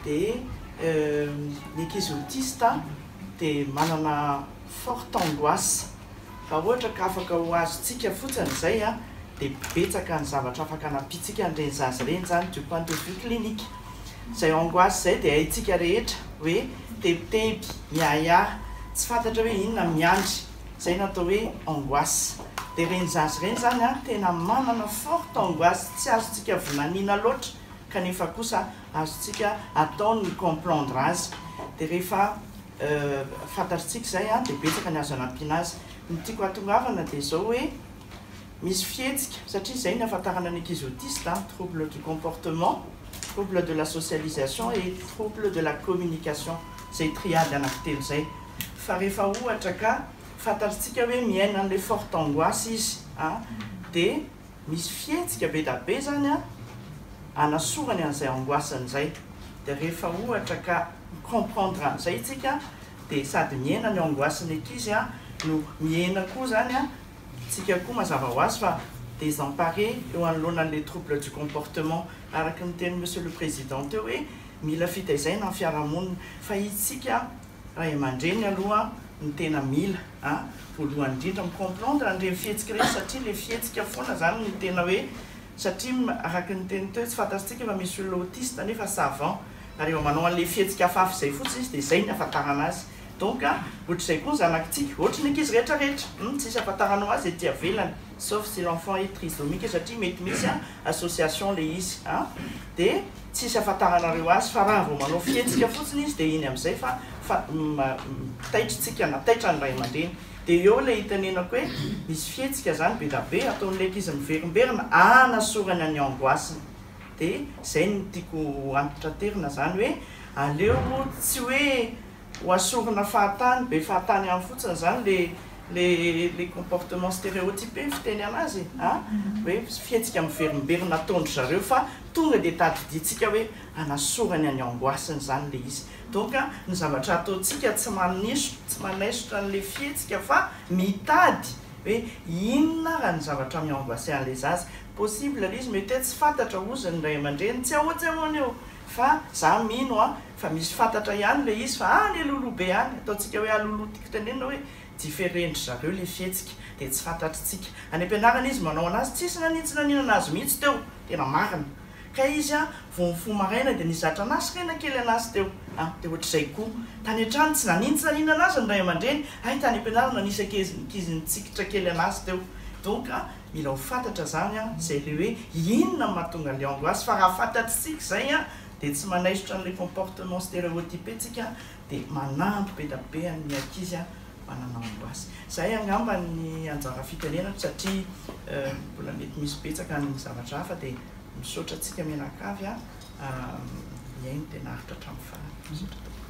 Dia ny ankizy autiste dia manana forte angoisse raha ohatra ka afaka ho azontsika fotsiny izay dia betsaka ny zavatra afaka hanampiantsika an'ireny zaza ireny izany du point de vue clinique. Izay angoisse izay dia haintsika rehetra hoe tebiteby, miahiahy, tsy fantatra hoe inona no miandry, izay no atao hoe angoisse. Dia ireny zaza ireny izany tena manana forte angoisse tsy azontsika vinaniana loatra kanefa kosa azontsika atao ny mi-comprendre azy dia rehefa fantatritsika izay dia betsaka ny azo anampiana azy. Ny tiako hahatongavana dia izao hoe misy fihetsika, satria izay ny ahafantarana ny ankizy autiste, trouble du comportement, trouble de la socialisation et trouble de la communication, izay triade anankitelo izay, fa rehefa ohatra ka fantatritsika hoe miaina an'ilay forte angoisse izy dia Misy fihetsika be da be zany a, anasorany an'izay angoissany zay, de rehefa ohatra ka mi-comprendre an'izay tsika de sady mihena ny angoissen'ny ankizy a, no mihena koa zany a, tsika koa mazava ho azy fa désemparé eo anoloana an'le trouble du comportement, araky ny tenin'i Monsieur le Président teo hoe mila fitaizaina ny fiarahamonina, fa itsika. Ray aman-dreny aloha no tena mila a, voalohany indrindra mi-comprendre an'ireny fihetsika ireny satria ilay fihetsika foana izany no tena hoe satria araka ny niteniko teo tsy fantatsika fa misy olona autiste nefa savant ary efa manao an'ilay fihetsika hafahafa izay fotsiny izy dia izay ny ahafantarana azy donc ohatr'izay koa ny zanakitsika ohatry ny ankizy rehetra rehetra hum tsisy ahafantaranao azy ety avelany sauf si l'enfant est trisomique satria mety misy association ilay izy a dia tsisy afantaranareo azy fa raha vao manao fihetsika fotsiny izy dia iny amizay fa fa taitry tsika na taitra ny ray aman-dreny dia eo ilay itenenako hoe misy fihetsika zany bedabe ataon'ilay ankizy miverimberina anasorany any angoissny dia zay no tiako ho antraterina zany hoe aleo tsy hoe Ho asorina fahatany, be fahatany ihany fotsiny izany le le le comportement stereotype ny fiteny anazy a! hoe fihetsika miverimberina ataon-dry zareo fa tonga dia tadidintsika hoe hanasorany any angoasiny izany ilay izy. Donc ny zavatra ataontsika tsy manaisotra tsy manaisotra an'ilay fihetsika fa mitady hoe inona ary ny zavatra mi-angoisser an'ilay zaza. Possible ilay izy mety hoe tsy fantatra hozy ny ray aman-dreny, tsy ahoa tsy ahoana eo! Fa za mino an, fa misy fantatra ihany le izy fa any Alolo be any, ataontsika hoe Alolo tiko tenenina hoe diferen-dry zareo le fihetsika dia tsy fantatritsika. Any am-pianarana izy manao anazy tsisy nanintsy naninana azy mihitsy teo, tena marina. Kay izy an, vao mifoha maraina dia nizatra nasrena kely anazy teo an, dia ohatr'izay koa. Tany an-trano tsy nanintsy naninana azy ny ray aman-dreny, hay tany am-pianarana nisy ankizy nitsikitra kely anazy teo. Donc Mila ho fantatra zany an, zay le hoe inona no mahatonga le angoisse fa raha fantatsika zay an de tsy manaisotra anle comportement stereotype tsika de manampy be da be an'ny ankizy an mba nanao angoisse. Zay angamba ny anjara fitenenako satria mbola mety misy betsaka ny zavatra hafa de misaotra antsika mianakavy an, mihaino de naharitra hatramin'ny farany. Misaotra tompoko.